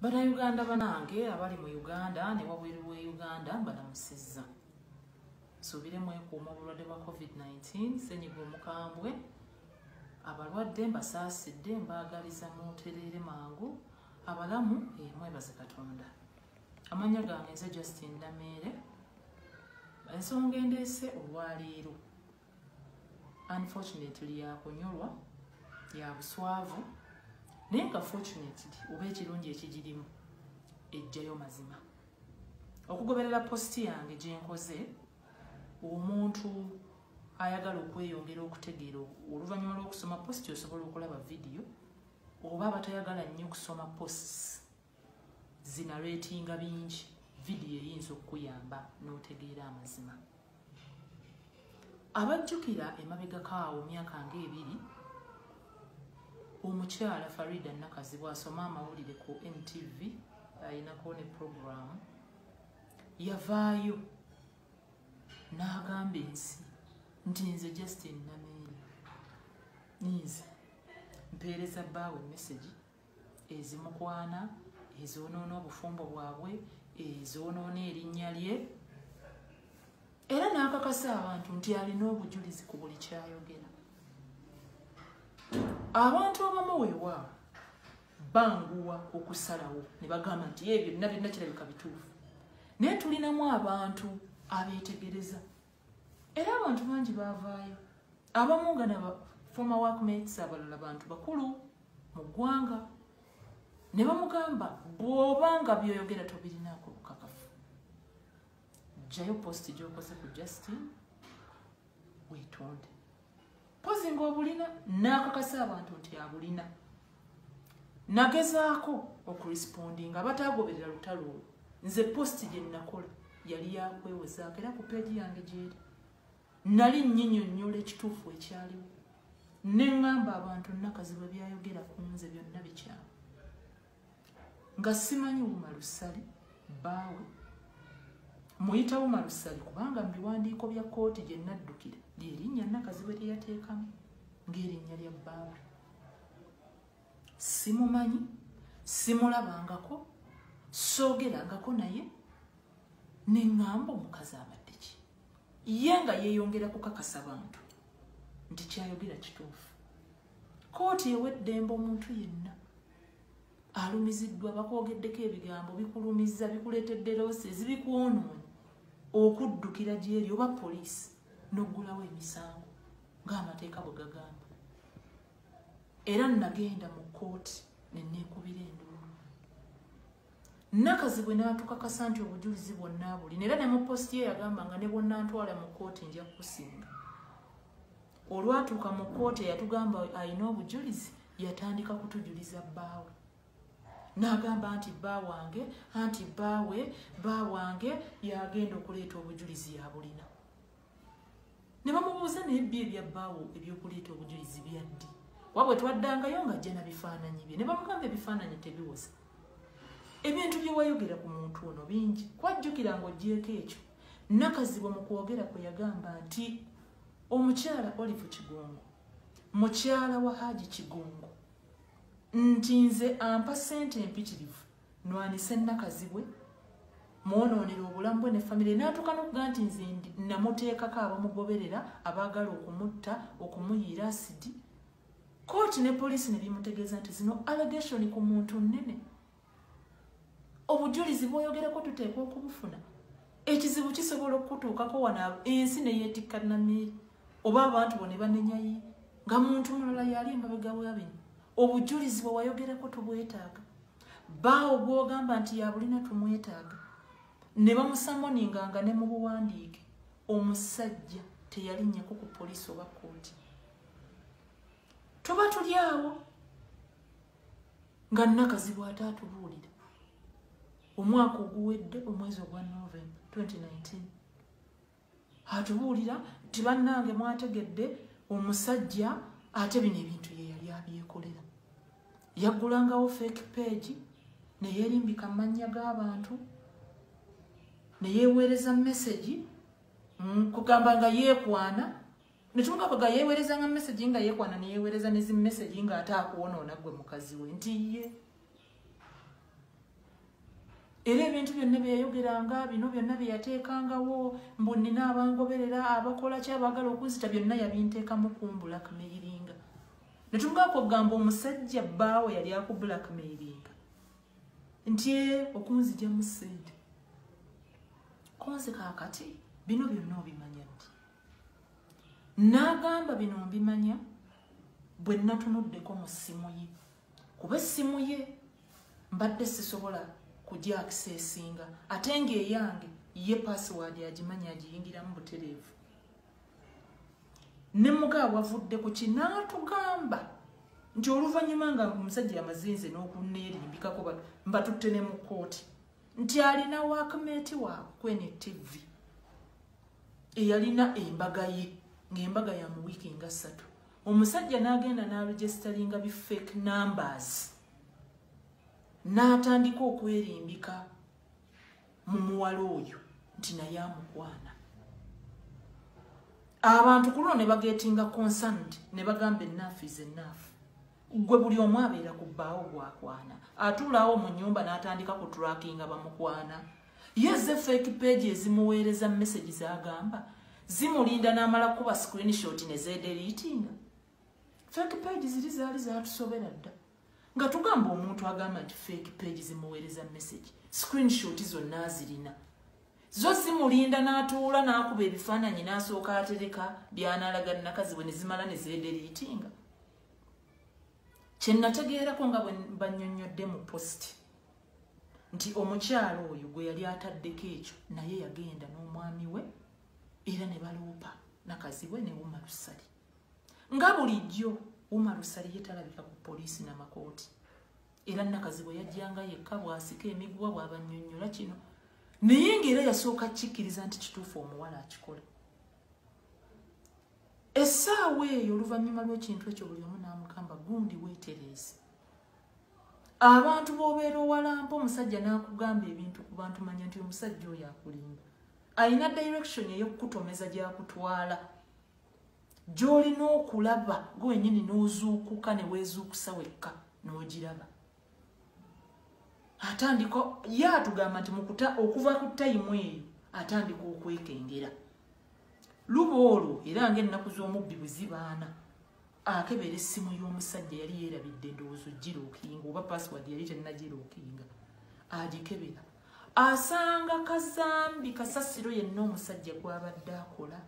banauganda banange abali mu uganda ne wabweru wa uganda mbalamusizza nsuubire mwekuuma obulwadde bwa covid-19 senyiga omukambwe abalwadde mbasaasidde mbaagaliza mutereere mangu abalamu emwebaze katonda amanya gange nze justin nameere ensonga endeese olwaleero unfortunately yakunyolwa yabuswavu naye nga fortunately oba ekirungi ekigirimu ejjayo mazima okugoberera positi yange gyenkoze omuntu ayagala okweyongera okutegeera oluvannyuma lw'okusoma positi osobola okulaba vidiyo oba abatayagala nnyo okusoma posts zinaretinga bingi vidiyo eyinza okukuyamba n'otegeera amazima abajjukira emabegako awo myaka nga ebiri omukyala farida nakazi bwasoma amawulire ku ntv ayinako ne puroguramu yavaayo n'agamba ensi nti nze justin nameeri ninze mpeereza baawe emesegi ezimukwana ezoonoona obufumbo bwabwe ezoonoona erinnya lye era n'akakasa abantu nti alina obujulizi ku buli kyayogera abantu abamu weewaawo banguwa okusalawo ne bagamba nti ebyo byonna byonna kirabika bituufu naye tulinamu abantu abeetegereza era abantu bangi baavaayo abamu nga na former workmates abalala bantu bakulu mu ggwanga ne bamugamba bw'oba nga byoyogera tobirinaako bukakafu jjayo posti gy'okoze ku justin weetonde mpozi ngaobulina nakakasa abantu nti abulina nagezaako okurespondi nga batagoberera lutalo olwo nze posti gyenakola yali yakwewezaako era ku peegi yange gyeri nali nyinyonyola ekituufu ekyaliwo neŋŋamba abantu nakazi bwe byayogera ku nze byonna bikyamu nga simanyi wuma lusali bbaawe muyita wuma lusali kubanga mu biwandiiko bya kkooti gye naddukira lyerinnya nakaziwe lye yateekamu ng'erinnya lya bbaawe simumanyi simulabangako soogerangako naye neŋŋamba omukazi abadde ki ye nga yeeyongera kukakasa bantu nti kyayogera kituufu kooti ewa eddembe omuntu yenna alumiziddwa bakwogeddeko ebigambo bikulumiza bikuleetedde loosi ezibikwonoonyi okuddukira gyeri oba poliisi n'oggulawo emisango ng'amateeka bwe gagamba era nagenda mu kkooti neneekubira enduulu nakazi bwe naatukakasa nti obujulizi bwonna abuli naera ne mu positi ye yagamba nga ne bwonna ntwala mu kkooti nja kukusinga olwatuuka mu kkooti eyatugamba alina obujulizi yatandika kutujuliza bbaawe n'agamba nti bba wange anti bbaawe bba wange yagenda okuleeta obujulizi yabulina ne bamubuuza naye bbi ebya bbaawo ebyokuleeta obujulizi byaddi kuba bwe twaddangayo nga jjena bifaananyi bye ne bamugamba ebifaananyi tebiwoza ebintu bye wayogera ku muntu ono bingi kwajjukira ng'ogyeko ekyo nakazibwe mu kwogera kwe yagamba nti omukyala olive kigongo mukyala wa haji kigongo nti nze ampa sente empitirivu nwanise nakazibwe mwonoonera obulamu bwe ne famire natuuka nokuga nti nze namuteekako abamugoberera abaagala okumutta okumuyiira asidi kooti ne poliisi ne bimutegeeza nti zino allegation ku muntu nnene obujulizi bwoyogereko tuteekwa okubufuna ekizibu kisobola okukutuukako wano ensi neyetikka namiri oba abantu bo ne banenyayi nga muntu mulala yali emabega wabino obujulizi bwe wayogerako tubwetaaga baawo gwogamba nti yabulina tumwetaaga ne bamusamoninganga ne mu buwandiike omusajja teyalinnyeko ku poliisi oba kooti tuba tuli awo nga nakazibu ate atubuulira omwaka oguwedde omwezi ogwa november 2019 atubuulira nti bannange mwategedde omusajja ate bino ebintu ye yali abyekolera yaggulangawo fake page neyerimbika amannya g'abantu neyeweereza mesegi mm, kugamba nga yeekwana nekimuka kwega yewereza nga message nga yekwana neyewereza nezi message nga ate akuwonoona gwe mukazi we nti ye era ebintu byonna byeyayogeranga bino byonna byeyateekangawo mbu nina abangoberera abakola ky abagala okunzita byonna yabinteekamu ku mbulakmeiringa netumugala kwegamba omusajja bbaawe yali aku bulakmeiringa nti e okunzija mu sente konze kakati bino byonna obimanya n'agamba bino mbimanya bwe natunuddeko mu ssimu ye kuba essimu ye mbadde sisobola kugya akisesinga ate ng'eyange ye pasiwaadi agimanyi agiyingiramu butereevu ne muga wavudde ku kinaatugamba nti oluvannyuma nga omusajja amazinze n'okunneerimbikako mbatutte ne mu kkooti nti alina waakmeeti waabwe kwene tv eyalina embaga ye ng'embaga ya mu wiiki nga ssatu omusajja n'agenda n'aregisitalinga bi fake numbers n'atandika okwerimbika mu muwala oyo nti naye amukwana abantu ku luno ne bagetinga concerned ne bagamba enaafu is enaafu gwe buli omu abeera ku bbaawo gwakwana atuulaawo mu nyumba n'atandika ku trackinga bamukwana ye ze fake page ezimuweereza message zagamba zimulinda n'amala kukuba screenshot ne zeederiitinga fake page ziri zaali zatusobera dda nga tugamba omuntu agamba nti fake page zimuweereza message screenshot zonna azirina zo zimulinda n'atuula n'akuba ebifaananyi n'asooka atereka byanalaga nakazi bwe ne zimala ne zeederiitinga kyenategeerako nga banyonyodde mu post nti omukyalo oyo gwe yali ataddeko ekyo naye yagenda n'omwami we era ne baloopa nakazi we ne wuma lusali nga bulijjo wuma lusali ye talabika ku poliisi namakooti era nakazi bwe yajjanga yekka bwasika emiguwa bwabanyonyola kino naye ngaera yasooka kikkiriza nti kituufu omuwala akikola essaawa eyo oluvannyuma lw'ekintu ekyo buli omu n'amugamba gundi weetereeze abantu b'obeera owalampa omusajja n'akugamba ebintu ku bantu manya nti omusajja oyo akulimba alina direction eyokukutomeza gyakutwala gyolina okulaba gwe wenyini n'ozuukuka ne weezuukusa wekka n'ogiraba atandika ye atugamba nti mukuta okuva ku tayimu eyo atandika okwekengera luba olwo era ngaennaku z'omubbi bwe zibaana akebera essimu y'omusajja yali yeerabidde endowoozo girookinga oba password yali tennagirookinga agikebera asanga kazambi kasasiro yenna omusajja gwabadde akola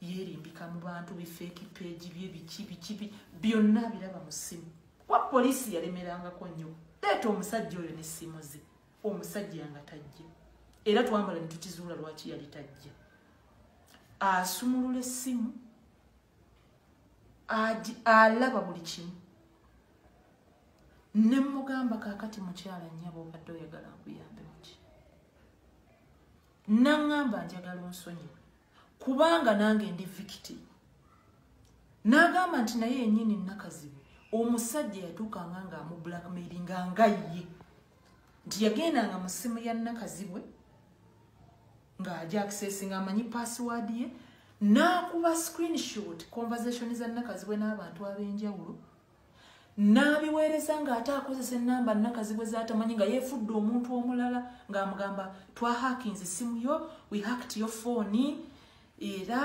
yeerimbika mu bantu bifeeki peegi bye biki biki byonna biraba mu ssimu kuba poliisi yalemerangako nnyo leeta omusajja oyo n'essimu ze omusajja nga tajja era twambala ne tukizuula lwaki yali tajja asumulula essimu alaba buli kimu ne mugamba kakati mukyala nyaba obadde oyagala nkuyambe muki naŋŋamba njagala onsonyiwe kubanga nange ndi vikiti n'agamba nti naye yennyini nakazibu omusajja yatuukanga ng'amu blackmailinga nga ye nti yagendanga mu ssimu ya nakazibwe ng'aja access ng'amanyi password ye n'akuba screenshot conversation za nakazibwe n'abantu ab'enjawulo n'abiweereza ng'ate akozesa ennamba nakazibwe z'atamanyi nga yeefudde omuntu omulala ng'amugamba twahakinze essimu yo we hacked yo fooni era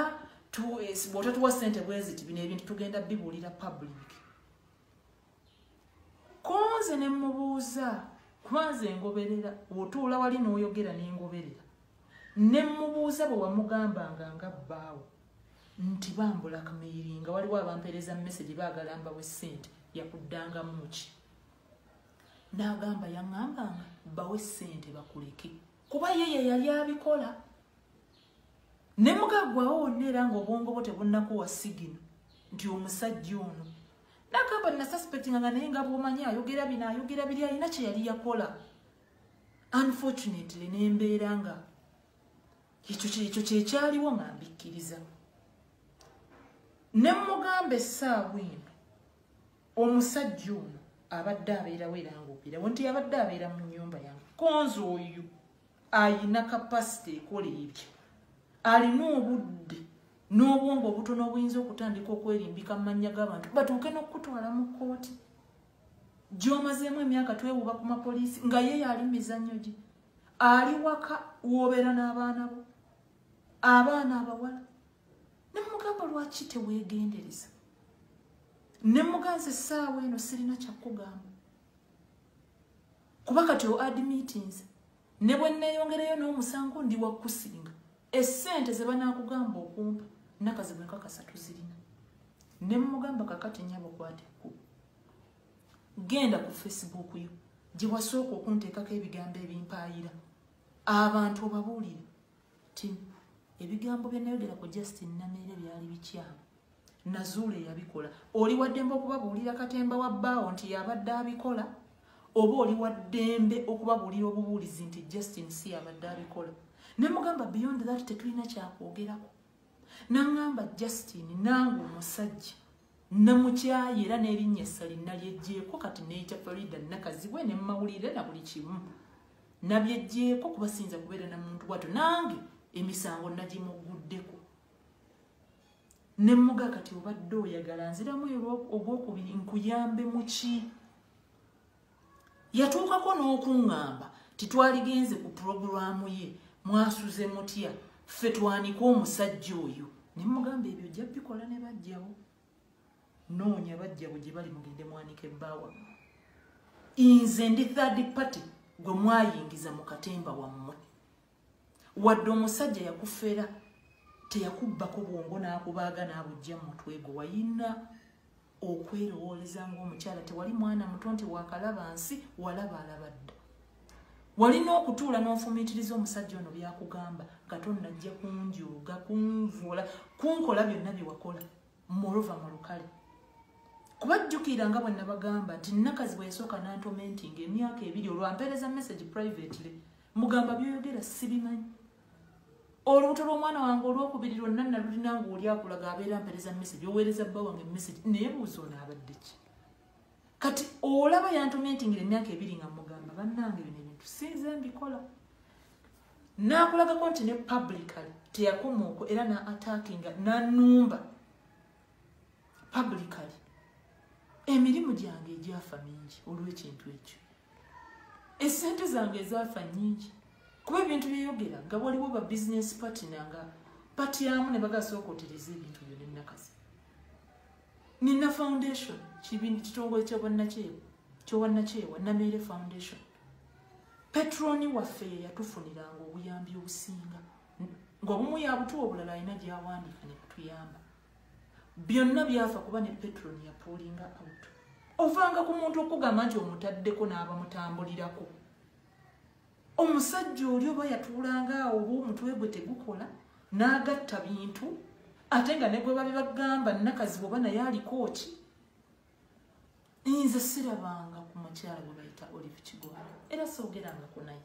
bw'otatuwa ssente bweziti bino ebintu tugenda bibuulira public konze ne mubuuza kubanze ngoberera otuula wali n'oyogera ne ngoberera ne mubuuza bwe wamugambanga nga bbaawo nti bambulakmeiri nga waliwo abampeereza mu mesegi baagala mbawe ssente yakuddangamu ki n'agamba yaŋŋambanga bawe ssente bakuleke kuba ye ye yali abikola ne mugaggwawo wonna era ng'obwongo bwo tebunnakuwa sigino nti omusajja ono nagamba nasuspectinga nga naye nga bwomanyi ayogera bino ayogera biri alina kye yali yakola unfortunately nembeera nga ekyo kyekyaliwo nga mbikkiriza ne mugamba essaawa eno omusajja ono abadde abeerawo era ngaobeerawo nti abadde abeera mu nyumba yange konzi oyo ayina kapasite ekola ebyo alina obudde n'obwongo obutono obuyinza okutandika okwerimbika mu mannya g'abantu batuuke n'okukutwala mu kkooti gy'omazeemu emyaka twewuba ku mapoliisi nga ye yaali mu mizannyo gye ali waka woobeera n'abaana bo abaana abawala ne mugamba lwaki teweegendereza ne muganza essaawa eno sirina kyakugamba kuba kati o admitinze ne bwe nneeyongereyo n'omusango ndi wakusinga essente ze banaakugamba okumpa nakazibu enkakasa tuzirina ne mmugamba kakati nyabo kwate ku genda ku facebook yo gye wasooka okunteekako ebigambo ebimpaayira abantu obabuulire ti ebigambo bye nayogera ku justin nameere byali bikyamu nazuula eyabikola oli waddembe okubabuulira katemba wa bbaawo nti yabadde abikola oba oli waddembe okubabuulira obubuulizi nti justin si yabadde abikola ne mugamba beyond that tetulina kyakwogerako naŋŋamba justin nange omusajja namukyaye era n'erinnya essali nalyeggyeko kati neyita farida nakazibwe ne mumawulire na buli kimu nabyeggyeko kuba siyinza kubeera na muntu bwatyo nange emisango nagimugguddeko ne muga kati obadde oyagala nziramu ogwokubiri nkuyambe muki yatuukako n'okuŋŋamba titwaligenze ku pulogulaamu ye mwasuze mutya ffe twanika omusajja oyo ne mugamba ebyo ojja bikola ne bajjawo noonya bajjawo gye bali mugende mwanike bbaawa nze ndi third party gwe mwayingiza mu katemba wammwe wadde omusajja yakufera teyakubbako bwongo n'akubaaga n'abujja mutwe gwe wayina okwerowooleza ng'omukyala tewali mwana muto nti wakalaba nsi walaba alaba dda walina okutuula n'ofumiitiriza omusajja ono byakugamba nga tonnajja kunjuuga kunvuula kunkola byonna bye wakola morova mu lukale kuba jjukira nga bwe nabagamba nti nakazi bwe yasooka nantomentinga emyaka ebiri olwampeereza message privately mugamba byoyogera sibimanyi olubuto lwomwana wange olwokubiri lwonna nalulina nga oli akulaga abeera mpereza message oweereza bba wange message naye buuza ono abadde ki kati olaba yantomentingira emyaka ebiri nga mugamba bannange bino ebintu sinze mbikola nakulagako nti ne publicly teyakomaoko era na attackinga nanumba publicly emirimu gyange egyafa mingi olw'ekintu ekyo esente zange ezaafa nyingi kuba ebintu byeyogera nga waliwo ba business partner nga pati yamu ne bagasooka otereza ebintu byo nenakazi nina foundation kibini kitongole kyabwannakyewa kyobwannakyewa nameere foundation petroni waffe yeyatufuniranga obuyambi obusinga ng'obumu yabutuwa obulala alina gyawandika ne kutuyamba byonna byafa kuba ne petero neyapuulinga out ovanga ku muntu okugamba nti omutaddeko n'abamutambulirako omusajja oli oba yatuulanga awo oba omutwe gwe tegukola n'agatta bintu ate nga ne gwe babi bagamba nakazi bwoba naye aliko ki nze sirabanga ku mukyala gwe bayita olive kigoa era soogerangako naye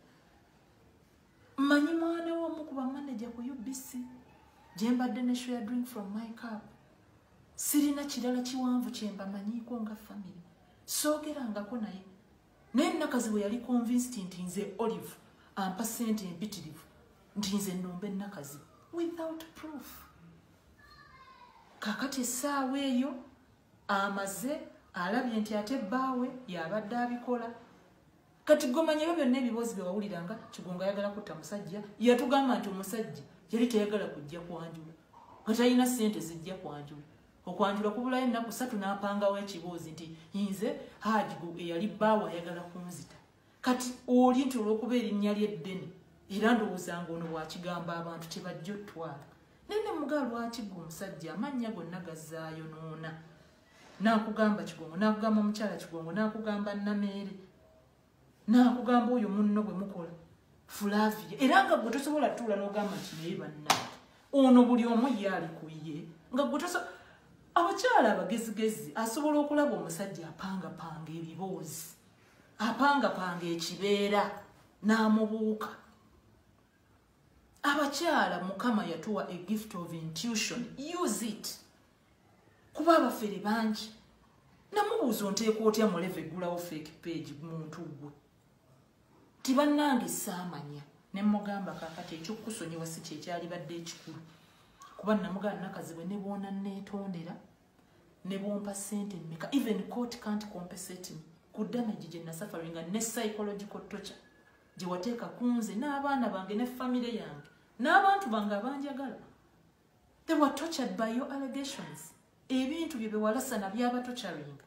mmanyi mwana w'omu ku bamaneja ku ubc gye mbadde ne share drink from my cup sirina kirala kiwanvu kye mbamanyiiko nga famire soogerangako naye naye nakazi bwe yali convinced nti nze olive ampa ssente empitirivu nti nze nnomba ennakazi without proof kakati essaawa eyo amaze alabye nti ate bbaawe yabadde abikola kati gomanya ebyo byonna ebiboozi bye wawuliranga kigongo ayagala kutta musajja yatugamba nti omusajja yali tayagala kujja kwanjula nga talina ssente zijja kwanjula okwanjula kubulayo ennaku satu n'apangawo ekiboozi nti nze haji eyali bbaawo ayagala kunzita kati oli nti olw'okuba erinnya ly'eddene era ndowooza nga ono bwakigamba abantu tebajja otwala naye ne mugaa lwaki gwe omusajja amannya gonna gazaayonoona nakugamba kigongo nakugamba mukyala kigongo nakugamba nameere nakugamba oyo munno bwe mukola flavia era nga gwe tosobola tuula nogamba nti naye banna ono buli omu ye ali ku ye nga gwe tosobola abakyala abagezigezi asobola okulaba omusajja apangapanga ebiboozi apangapanga ekibeera n'amubuuka abakyala mukama yatuwa a gift of intuition use it kuba abafere bangi namubuuza onteeka otya muleva eggulawo fake page muntu gwe nti bannange saamanya ne mugamba kakati ekyokukusonyiwa si kyekyalibadde ekikulu kuba namugaa nakazibwe ne bwona neetondera ne bwompa sente mmeka even court can't compensate me ku damage gye nasafaringa ne psychological torture gye wateeka ku nze n'abaana bange ne famire yange n'abantu bange abanjagala they were tortured by your allegations ebintu bye bewalasana byaba torturing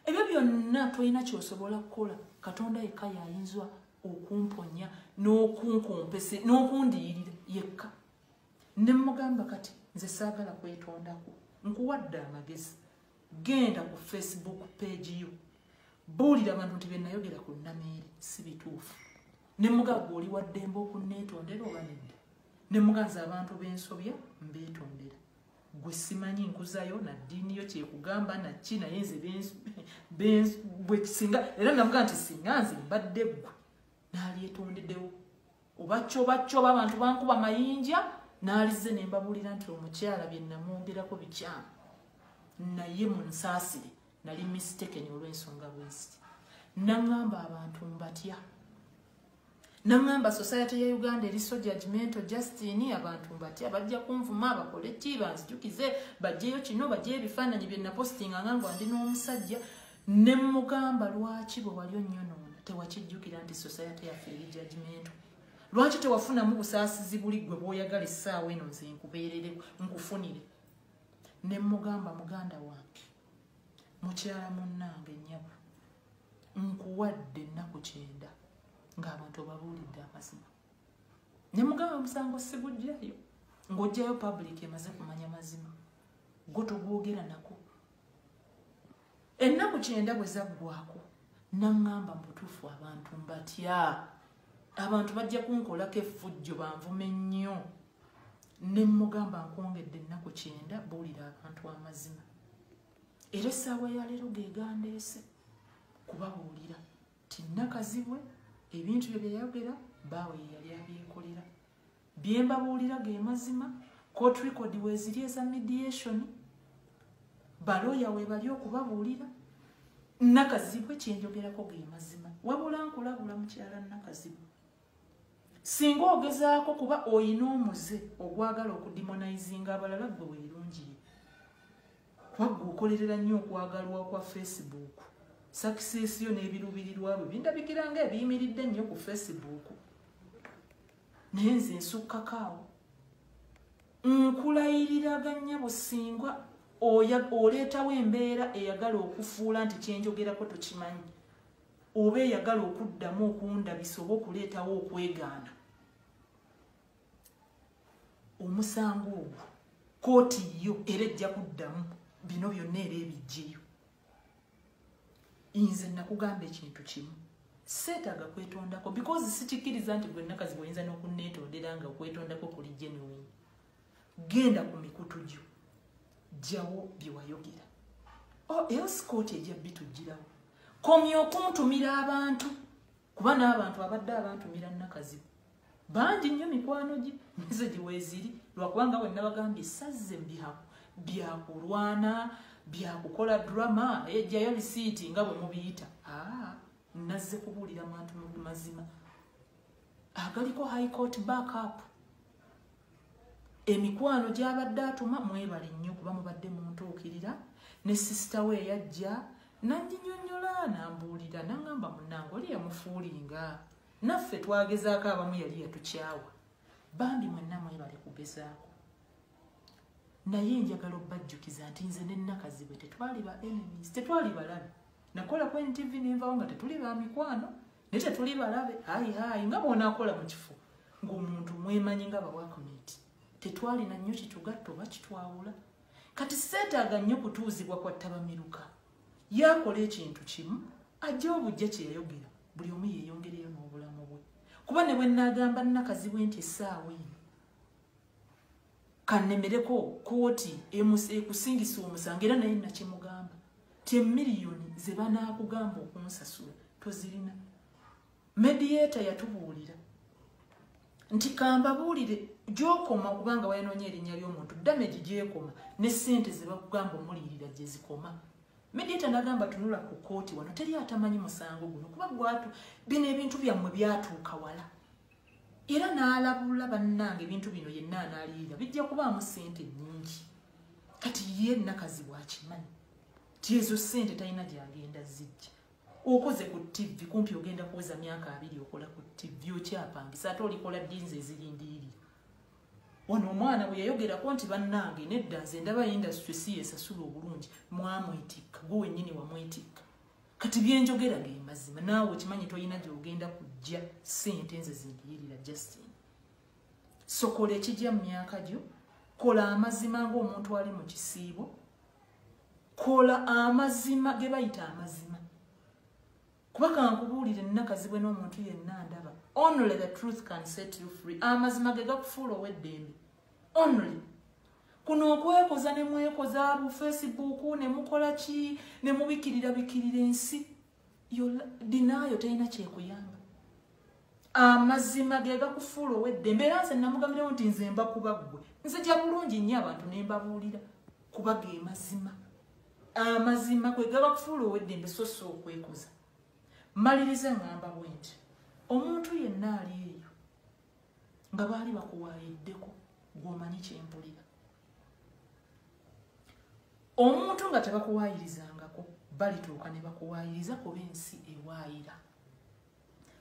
ebyo byonna tolina kyosobola kukola katonda yekka yayinzwa okumponya n'okunkumpese n'okundiyirira yekka ne mugamba kati nze saagala kwetondako nkuwadde amagezi genda ku facebook page yo buulira abantu nti byenayogera ku nameere si bituufu ne mugagga oli waddembe okunneetondera oba nedda ne muganzi abantu bensobya mbetondera gwe simanyi nkuzayo na ddiini yo kyekugamba naki naye nze bwekisinga era navuga nti singa nze mbadde ggwe nalyetondedewo oba kyoba kyoba abantu bankuba mayinja nalize nembabuulira nti omukyala byenamwongerako bikyamu naye munsaasire nali mistekeni olwensonga bweziti naŋamba abantu mbatya nangamba society ya uganda eri so judgmento justin abantu mbatya bajja kunvuma bakole ki banzijukize bajjeyo kino bajjeyo ebifaananyi byenapostinga nga ngo ndi n'omusajja ne mugamba lwaki bwe wali onnyonoona tewakijjukira nti society yaffe eri judgmento lwaki tewafunamu busaasizi buli gwe bwoyagala essaawa eno nze nkubeerere nkufunire ne mugamba muganda wange mukyala munnange nyabo nkuwadde ennaku kyenda ng'abantu obabuulidde amazima ne mugamba omusango sigujjayo ng'ojjayo public emaze kumanya mazima gwo togwogera nako ennaku kyenda bwe zaggwako naŋŋamba mu butuufu abantu mbatya abantu bajja kunkolako effujjo banvume nnyo nemugamba nkwongedde ennaku kyenda buulira abantu amazima era essaawa yaleero gegandeese kubabuulira ti nakazibwe ebintu bye byeyayogera baawe yeyali abyekolera bye mbabuulira ge mazima court record weziri eza mediation balooya webali okubabuulira nakazibwe kyenjogerako ge mazima wabula nkulabula mukyala nakazibwe singa ogezaako kuba oyina omuze ogwagala okudimonizinga abalala gwe weerungiye kubagga okolerera nnyo okwagalwa kwa facebook sakisesi yo n'ebiruubirirwa bwe bindabikira nga ebiyimiridde nnyo ku facebook naye nze nsukkako awo nkulayiriranga nnyabo singa oleetawo embeera eyagala okufuula nti kyenjogerako tokimanyi oba eyagala okuddamu okundabisa oba okuleetawo okwegaana omusango ogwo kooti yo era ejja kuddamu bino byonna era ebijjeyo nze nakugamba ekintu kimu seetaaga kwetondako because sikikkiriza nti gwe nakazi bwoyinza n'okunneetondera nga okwetondako kuli genuine genda ku mikutu gyo jjawo bye wayogera oh, else kooti ejja bitujjirawo komya okuntumira abantu kuba n'abantu abadde abantumira nakazibu bangi nnyo mikwano gye nizo gye weeziri lwakubanga bwe nabagambye sazze mbihaku byakulwana byakukola drama ejjayo lisiiti nga bwe mubiyita ah, nazze kubuulira mantu mazima agaliko high court backup emikwano gyabadde atuma mwebale nnyo kuba mubadde muntuukirira ne sisita we eyajja nanjinyonyola nambuulira nangamba munange oli yamufuulinga naffe twagezaako abamu yali yatukyawa bambi mwenna mwebale kugezaako naye njagala obbajjukiza nti nze nenakazi bwe tetwali ba enemies tetwali balabi nakola ku ntv nenvawo nga tetuli ba mikwano naye tetuli balabe hayi hayi nga bwonakola mu kifo ng'omuntu mwemanyi nga bawakomiti tetwalina nnyo kitugatta oba kitwawula kati seetaaga nnyo kutuuzibwa kwa ttabamiruka yaakola ekintu kimu ajja obujja kye yayogera buli omu yeeyongereyo n'obulamu bwe kuba ne bwe nnaagamba nnakazi bwe nti essaawa eno kanemereko kooti ekusingisa omusango era naye nakimugamba ti emiliyoni ze banaakugamba okunsasula tozirina mediata yatubuulira nti kambabuulire gyokoma kubanga wayanoonya erinnya ly'omuntu damage gyekoma ne sente ze bakugamba omuliyirira gye zikoma mediata nagamba tunula ku kooti wano teri atamanyi musango guno kuba gwatu bino ebintu byammwe byatuuka wala era n'alabula bannange ebintu bino yenna anaaliyira bijja kubaamu ssente nnyingi kati ye nakazibwa akimanyi ti ezo ssente talina gyagenda zijja okoze ku ttivi kumpi ogenda kuweza myaka abiri okola ku ttivi okyapangisa ate olikola ddinzi ezirindiiri wano omwana bwe yayogerako nti bannange nedda nze ndaba indasitri si yesasula obulungi mwamwetikka gwe wennyini wamwetikka kati byenjogera ge mazima naawe okimanyi tolina gyogenda kujja sente nze zindiyirira justin sokola ekijja mu myaka gyo kola amazima ngaomuntu ali mu kisiibo kola amazima ge bayita amazima kuba kankubuulire nnakazibwe n'omuntu yenna ndaba only the truth can set you free amazima ge gakufuula ow'eddembe only kuno okwekoza ne mwekoza bu facebook ne mukola ki ne mubikirira bikirira ensi dinaayo terina kyekuyamba amazima ge gakufuula owedde mbeera nze namugambirawo nti nze mba kuba ggwe nzija bulungi nnyo abantu ne mbabuulira kuba ge mazima amazima kwe gaba kufuula owedde mbe so si okwekoza maliriza ngamba bwenti omuntu yenna ali eyo nga baali bakuwaayiddeko gwomanyi kyempulira omuntu nga tebakuwaayirizangako balituuka ne bakuwaayiriza kuba ensi ewaayira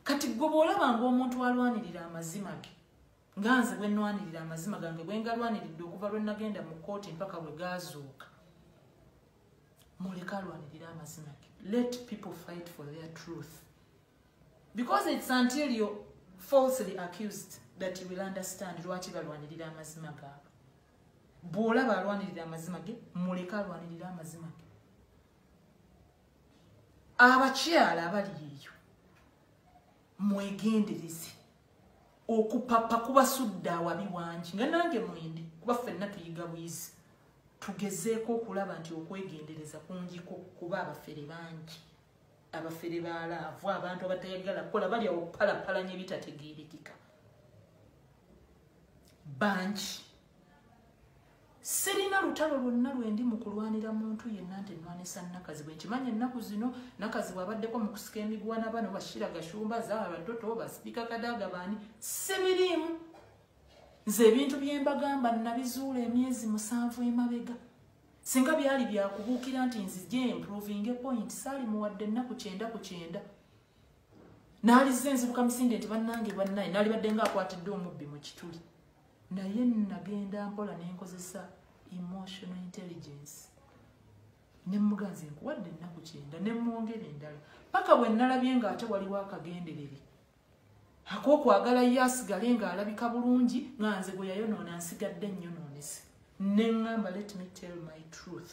kati gwe bw'olaba ngaomuntu alwanirira amazima ge nga nze bwe nnwanirira amazima gange bwe ngalwaniridde okuva lwe nagenda mu kkooti mpaka bwe gaazuuka muleka alwanirira amazima ge let people fight for their truth because it's until you falsely accused that you will understand lwaki balwanirira amazima gaabwe bw'olaba alwanirira amazima ge muleka alwanirira amazima ge abakyala abali eyo mwegendereze okupapa kubasudde awabi wangi nga nange mwendi kuba ffenna tuyiga bwizi tugezeeko okulaba nti okwegendereza kungiko kuba abafere bangi abafere balaavu abantu abatayagala kukola balya okupalapalanya ebitategeerekeka bangi sirina lutalo lwonna lwendi mu kulwanira muntu yenna nti nnwanisa nakazi bwe nkimanyi ennaku zino nakazi bwabaddeko mu kusika emigwana bano bashira gashumba zaara toto basipiika kadaaga baani sibiriimu nze ebintu byembagamba nabizuula emyezi musanvu emabega singa byali byakubuukira nti nzije improvinge point saali muwadde ennaku kyenda ku kyenda naalizza enzibuka misinde nti bannange bannaye naalibadde nga akwatidde omubbi mu kituli naye nagenda mpola nenkozesa emotional intelligence nemuganze nkuwadde ennaku kyenda nemwongera endala paka bwe nalabye nga ate waliwo akagenderere akokwagala ye asigale nga alabika bulungi nga nze gwe yayonoona nsigadde nnyonoonese ne ŋŋamba let me tell my truth